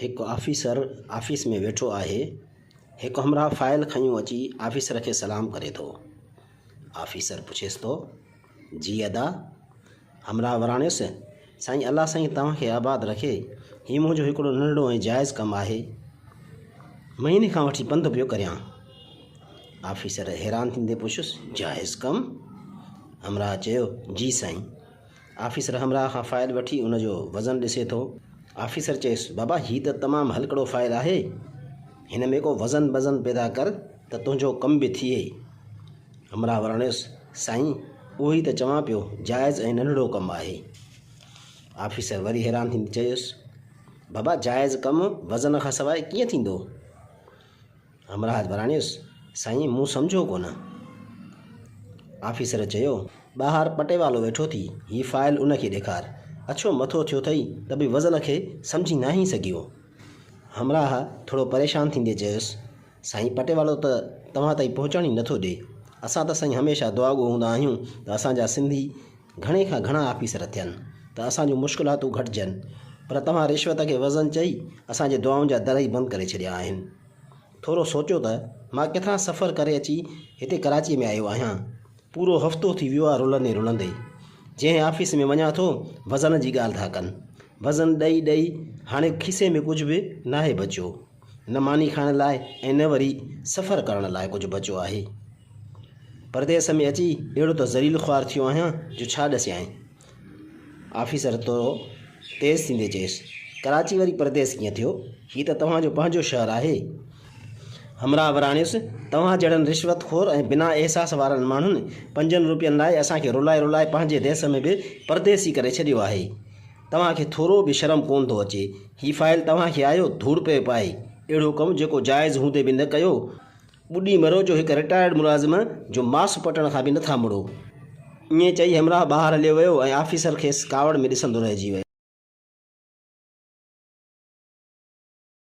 هڪ officer office ۾ ويٺو آهي. هڪ همراهه فائل کنيو اچي آفيسر کي سلام ڪري ٿو. آفيسر پڇيس ٿو، جي ادا! همراهه وراڻيس، سائين الله سائين توهان کي آباد رکي، هي منهنجو هڪڙو ننڍڙو ۽ جائز ڪم آهي. مهيني کان وٺي بند پيو ڪريان. آفيسر حيران ٿيندي پڇيس، جائز ڪم؟ همراهه چيو، جي سائين! آفيسر همراهه کان فائل وٺي ان جو وزن ڏسي ٿو. آفيسر چيس، بابا هي ته تمام هلڪڙو فائل آهي. هن ۾ ڪو وزن بزن پيدا ڪر ته تنهنجو ڪم به ٿئي. همراهه وراڻيس، سائين اهو ئي ته چوان پيو جائز ۽ ننڍڙو ڪم آهي. آفيسر وري حيران ٿيندي چيس، بابا جائز ڪم وزن کان سواء ڪيئن ٿيندو؟ همراهه وراڻيس، سائين مون سمجهيو ڪونه. آفيسر چيو، ٻاهر پٽيوالو ويٺو ٿي، هي فائل ان کي ڏيکار. اڇو مٿو ٿيو ٿئي ته به وزن کي سمجهي ناهين سگهيو. همراهه ٿورو پريشان ٿيندي چيس، سائين پٽيوالو ته توهان تائين پهچڻ ئي نٿو ڏي. اسان ته سائين هميشه دعاگو هوندا آهيون ته اسان جا سنڌي گهڻي کان گهڻا آفيسر ٿين ته اسان جون مشڪلاتون گهٽجن پر توهان رشوت کي وزن چئي اسان جي دعائن جا در ئي بند ڪري ڇڏيا آهن. ٿورو سوچيو ته مان ڪيترا سفر ڪري اچي هتي ڪراچيء ۾ آيو آهيان. پورو هفتو ٿي ويو آهي رلندي رلندي. جنهن آفيس ۾ وڃان ٿو، وزن جي ڳالهه ٿا ڪن. وزن ڏئي ڏئي هاڻي کيسي ۾ ڪجهه به ناهي بچيو. نه ماني کائڻ لاء ۽ نه وري سفر ڪرڻ لاء ڪجهه بچيو آهي. پرديس ۾ اچي اهڙو ته ذليل خوار ٿيو آهيان جو ڇا ڏسيانء. آفيسر ٿورو تيز ٿيندي چيس، ڪراچي وري پرديس ڪيئن ٿيو؟ هي ته توهان جو پنهنجو شهر آهي. همراهه وراڻيس، توهان جهڙن رشوت خور ۽ بنا احساس وارن ماڻهن پنجن روپين لاء اسان کي رلائي رلائي پنهنجي ديس ۾ به پرديسي ڪري ڇڏيو آهي. توهان کي ٿورو به شرم ڪونه ٿو اچي. هي فائل توهان کي آيو ڌوڙ پيو پائي. اهڙو ڪم جيڪو جائز هوندي به نه ڪيو. ٻڏي مرو جو هڪ رٽائرڊ ملازم جو ماس پٽڻ کان به نه ٿا مڙو. ائين چئي همراهه ٻاهر هليو ويو ۽ آفيسر کيس ڪاوڙ ۾ ڏسندو رهجي ويو.